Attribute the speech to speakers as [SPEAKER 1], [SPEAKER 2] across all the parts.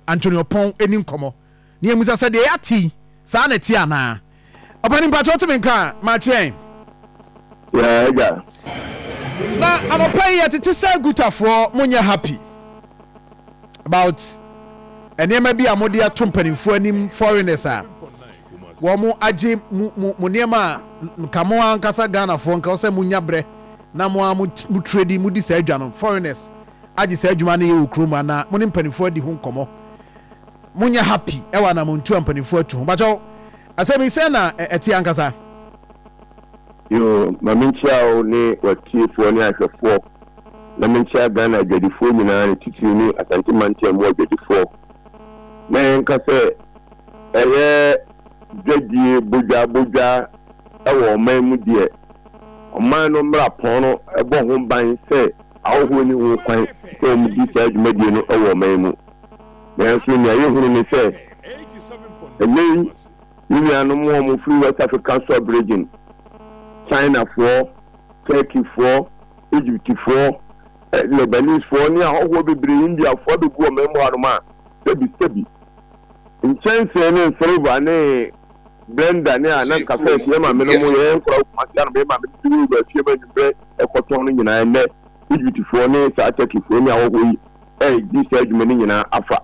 [SPEAKER 1] Anthony Ɔpɔn ni nkɔmmɔ na yɛmmisa sɛ deɛ yɛate yi, saa ara na ɛteɛ anaa? Ɔpanin, mpakyɛ wote me nka a, ma kyerɛ yɛn. Yeah,
[SPEAKER 2] agya.
[SPEAKER 1] Na anɔpa yi yɛtete sɛ Gutafoɔ, monyɛ happy about nneɛma bi a mode ato mpanimfoɔ anim, foreigners a wɔn agye mu mo nneɛma a nka mo ankasa Ghanafoɔ nka sɛ monya berɛ na mo a mo trade modi saa adwa no, foreigners agye saa adwuma no yɛ wɔ kurom anaa mo ne mpanimfoɔ adi ho nkɔmmɔ monyɛ happy ɛwɔ anamontu a mpanimfoɔ atu ho bakyɛw asɛm yi sɛn na ɛte ankasa.
[SPEAKER 2] Yoo, ma menkyia wo ne w'atiefoɔ ne ahwɛfoɔ, na menkyia Ghana adwadifoɔ nyinaa ne titiriw ne Asante mantam mu adwadifoɔ, na yɛnka sɛ ɛyɛ dwadie bodwa bodwa wɔ ɔman mu deɛ, ɔman no mmara pɔn no bɔ ho ban sɛ Ahɔho nni ho kwan sɛ wɔdi saa dwumadie no wɔ ɔman yi mu. Nanso nea yɛhunu ne sɛ, ɛnnɛ yi yɛn nuanom a wɔfiri West African Sub-Region, Chinafoɔ, Turkeyfoɔ, Egyptfoɔ, Lebanesefoɔ ne ahɔhoɔ bebree, Indiafoɔ, abɛgu ɔman mu hanom a, sɛbisɛbi, nkyɛnsee ne nsereba ne. blender ne a na nka fɛ nti yɛ maame no mo yɛ nkora okuma se ano bɛ maame no duro ba fie ma nwumbrɛ ɛkɔtɔn no nyinaa ɛnɛ egyptfoɔ ne saa turkeyfoɔ ne awɔhɔ yi ɛdi saa adwuma no nyinaa afa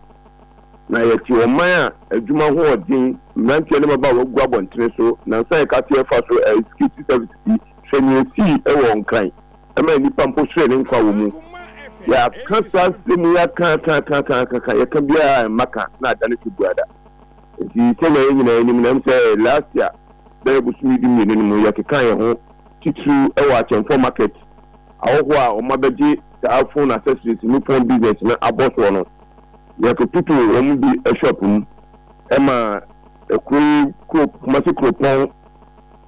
[SPEAKER 2] na yɛte ɔman a adwuma ho ɔden mmeranteɛ ne maba a wagu abɔntene so nansa yɛka se ɛfa so ɛɛ security services yi hwɛ ne esii ɛwɔ nkran ɛma nnipa mpo sere ne nkwa wɔ mu yɛaka saa se mu yɛaka aka aka aka aka yɛka biara mma ka na adane so buada. Enti sɛnea yɛn nyinaa nim no, ɛwom sɛ last year bɛyɛ bosome dumienu no mu yɛkekaa yɛn ho titiriw wɔ Akyɛmfoɔ Market ahɔho a wɔabɛgye saa phone accessories ne phone business no abɔsoɔ no, yɛkototoo wɔn bi shop mu maa kuro yi kuro Kumasi kuropɔn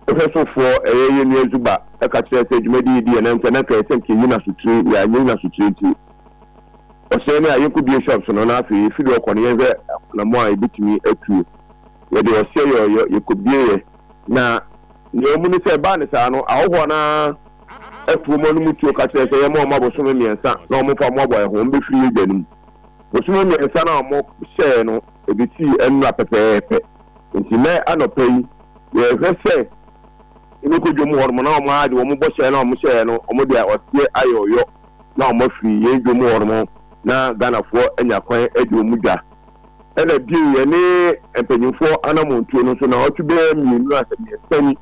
[SPEAKER 2] hwɛsofoɔ ɛyɛ yɛn nua Zuba ka kyerɛɛ sɛ dwumadie yi di yɛn nan nti ɛna nka yɛsɛ nka yɛyi no asotire, yɛanyɛ yi no asotire nti. ɔsɛɛ no a, yɛnkɔ bio shops no na afei yɛfi do kɔ no yɛnhwɛ anammɔn a yɛbɛtumi atuo. Yɛde ɔsɛɛ yɛ ɔyɔ, yɛkɔbieeɛ. Na nea ɔmu no sɛ ɛbaa no saa no, ahɔhoɔ no ara ɛto wɔn anom tuo ka kyerɛ sɛ yɛmma wɔn abosome mmiɛnsa na wɔmfa mmoaboa yɛn ho, wɔbɛfiri yɛn dwa no mu. Bosome mmiɛnsa no a wɔhyɛeɛ no, ɛbɛsii anura pɛpɛɛpɛ. Enti nnɛ anɔpa yi, yɛrehwɛ sɛ yɛbɛkɔ dwam hɔnom na wɔagye wɔn bɔhyɛ no a wɔhyɛeɛ no, wɔde ɔsɛɛ ayɛ ɔyɔ. na wɔn afiri yɛn dwom hɔ nom na Ghanafoɔ anya kwan adi wɔn mu dwa. Ɛna bio yɛne mpanyinfoɔ anamontuo no nso naawɔtwe bɛyɛ mmienu ansa mmiɛnsa ni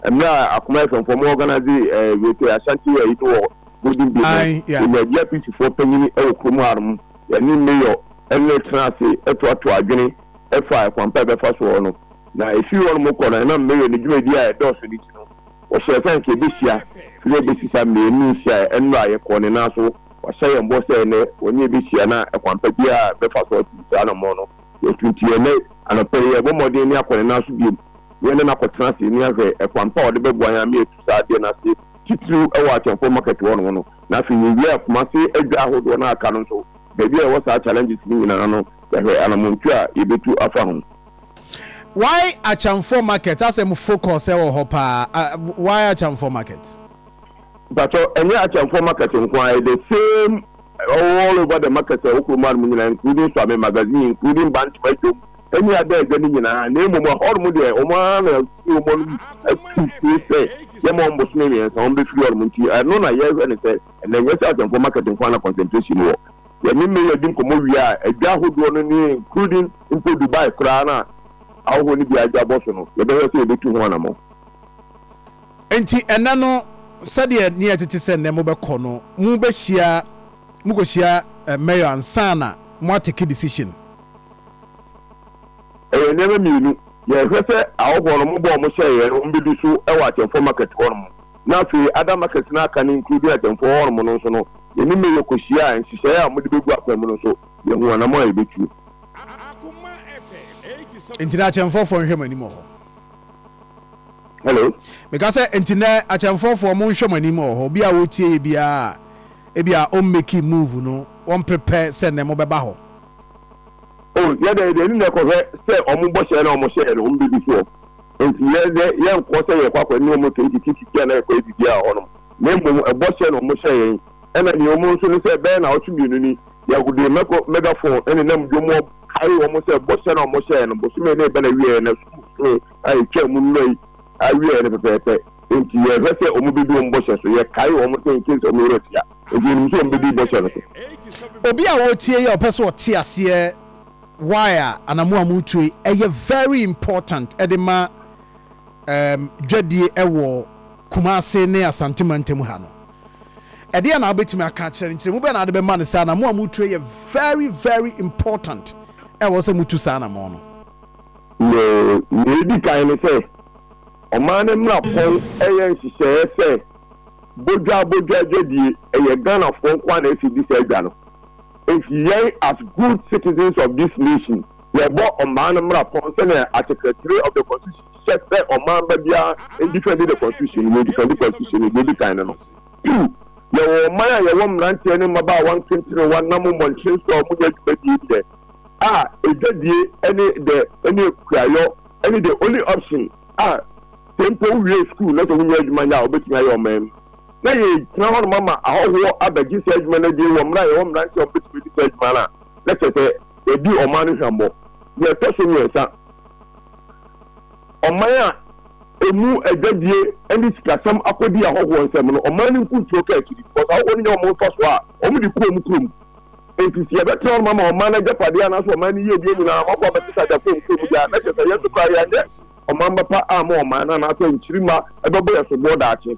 [SPEAKER 2] mmerɛ a Akoma FM foɔ mo organise Rete Ashanti ayi no wɔ Golden Bay no yɛnya GRPC foɔ panyini wɔ kurom ha nom yɛne Mayor ɛne tena ase toatoa adwene ɛfa ɛkwan pa ɛbɛfa soɔ no na ɛfiri hɔ nom kɔ no ɛnam Mayor ne dwumadie a ɛdɔɔso no nti no Wɔhyɛɛ sɛ anka yebehyia sɛnea ebesi fa mmienu nhyia a ɛnnora a yɛkɔɔ no, nanso wɔahyɛ yɛn bɔ sɛ ɛnnɛ wɔne yɛn behyia, na ɛkwan pa biara a ɛbɛfa so atu saa anammɔn no, yɛatu. Enti ɛnnɛ anɔpa yi, yɛrebɔ mmɔden ne akɔ ne nan so bio, na yɛne no akɔtena ase, ne ahwɛ ɛkwan pa a ɔde bɛboa yɛn ama yɛatu saa adeɛ no ase, titiriw wɔ Akyɛmfoɔ Market hɔnom no. Na afei yewiaa Kumasi adwa ahodoɔ no a aka no nso, baabi a yɛwɔ saa challenges no nyinaa no, yɛahwɛ anammɔntu a yebetu afa ho. Why
[SPEAKER 1] Akyamfoɔ market asɛm focus ɛwɔ hɔ paa a why Akyamfoɔ market. Mpakyɛw
[SPEAKER 2] ɛnyɛ Akyamfoɔ market nko ara ɛyɛ the same all over the market ɛwɔ kurom ha nom nyinaa including Suame magazine including Bantama dwom ɛne Ada adwa no nyinaa na mmom ɛhɔ nom deɛ wɔn ara na ɛfiri wɔn anom atu firi sɛ yɛma wɔn bosome mmiɛnsa wɔn bɛfiri hɔ nom nti ɛno na yɛhwɛ no sɛ ɛnɛ ɛnyɛ sɛ Akyamfoɔ market nko ara na concentration wɔ Yɛne Mayor di nkɔmmɔ wie a, adwa ahodoɔ no ne including mpo Dubai koraa no a ahɔhoɔ no biara adwa bɔ so no, yɛbɛhwɛ sɛ yɛbɛtu ho anammɔn.
[SPEAKER 1] Enti ɛnnɛ no, sɛdeɛ ne yɛ tete sɛ nnɛ mobɛkɔ no, mobɛhyia, mokɔhyia Mayor ansa na mo a take decision.
[SPEAKER 2] Ɛyɛ nneɛma mmienu, yɛhwɛ sɛ ahɔhoɔ no mobɔ wɔn hyɛeɛ no wɔbɛdi so wɔ Akyɛmfoɔ Market hɔnom na afei Adam Market no aka ne nkuro bi na Kyɛmfoɔ Hɔnom no nso no, yɛne Mayor kɔhyiaa, nhyehyɛeɛ a wɔde bɛgu akwan mu no nso, yɛhuu anammɔn a yɛbɛtuo. Nti
[SPEAKER 1] na akyɛmfɔfoɔ nhwɛ mo anim wɔ hɔ.
[SPEAKER 2] Hello. Meka sɛ
[SPEAKER 1] nti na akyɛmfɔfoɔ mo nhwɛ mo anim wɔ hɔ. Obi a wɔtie yɛ biara a ebi a ɔmmeki move no, wɔmpepɛ sɛ nnɛ mobɛba hɔ.
[SPEAKER 2] O, yɛdɛ yɛde ani na ɛkɔhwɛ sɛ wɔn bɔhyɛ na wɔhyɛɛ no, wɔbɛdi soɔ. Enti yɛn de, yɛnkɔɔ sɛ yɛrekɔ akɔne wɔn tete tititi a na yɛkɔ yɛ biribiara wɔ hɔnom, na mmom bɔhyɛ na wɔhyɛɛ yɛn, ɛna nea emu nso ne sɛ ɛbɛyɛ nnawɔtwe mmienu ni, yɛde mɛkɔ megafon nenam dwom mu akae wɔn sɛ bɔhyɛ no a wɔhyɛɛ no bosome no reba n'awieɛ, na sum bosome a ɛtwaa mu nnora yi awieɛ no pɛpɛɛpɛ nti yɛhwɛ sɛ wɔbɛdi wɔn bɔhyɛ so, yɛkae wɔn sɛ in case wɔn werɛ fia nti wɔnim sɛ wɔbɛdi bɔhyɛ no so. Obi a
[SPEAKER 1] ɔretie yi a ɔpɛ sɛ ɔte aseɛ why a anamo a mo tue ɛyɛ very important ɛde ma ɛɛm dwadie ɛwɔ Kumasi ne Asante mantam ha no. Ɛdeɛn na wobɛtumi aka akyerɛ no, nkyerɛmu bɛn na wode bɛma no sɛ anamo a mo tue yɛ very very important ɛwɔ sɛ mo tu saa anamo no. Nea
[SPEAKER 2] edi kan ne sɛ, ɔman no mmra pɔn ɛyɛ nhyehyɛɛ sɛ Bodwaa Bodwaa dwadie ɛyɛ Ghanafoɔ nko ara na ɛsɛ di saa dwa no. If yɛn as good citizens of this nation yɛbɔ ɔmaa no mmra pɔn sɛnea article three of the constitution hyɛ sɛ ɔman ba biara ndifɛndi the constitution no, yɛredifɛndi constitution no, deɛ edi kan no no. Two, yɛwɔ ɔman a yɛwɔ mmeranteɛ ne mmabaawa nkentenewa nam mmɔnten so a wɔn nyɛ dwumadie deɛ a ɛdwadie ɛne dɛ ɛne kuayɔ ɛne the only option a sɛ mpo wo wie school na sɛ wo nyɛ adwuma nyɛ a wobɛtumi ayɛ ɔman mu na yɛgyina hɔnom ama ahɔhoɔ abɛgye saa adwuma no adie wɔ mmerɛ a yɛwɔ mmeranteɛ a wɔbɛtumi adi saa adwuma no a, na kyerɛ sɛ yɛadi ɔman no hwammɔ. Deɛ ɛtɔ so mmiɛnsa, ɔman a ɛmu adwadie ne sikasɛm akɔdi ahɔhoɔ nsam no, ɔman no nkuntuo ka akyiri because ahɔhoɔ no nya wɔn mfasoɔ a wɔde kɔ wɔn kurom. Enti sɛ yɛbɛtena hɔnom ama ɔman no agyapadeɛ anaasɛ ɔman no yiedie nyinaa ma kɔ abɛgye sɛ agyapadeɛ wɔn kurom deɛ a, na kyerɛ sɛ yɛn nso koraa yɛnyɛ ɔmanba pa amma ɔman no anaasɛ nkyirimma bɛbɔ yɛn soboɔ daakye.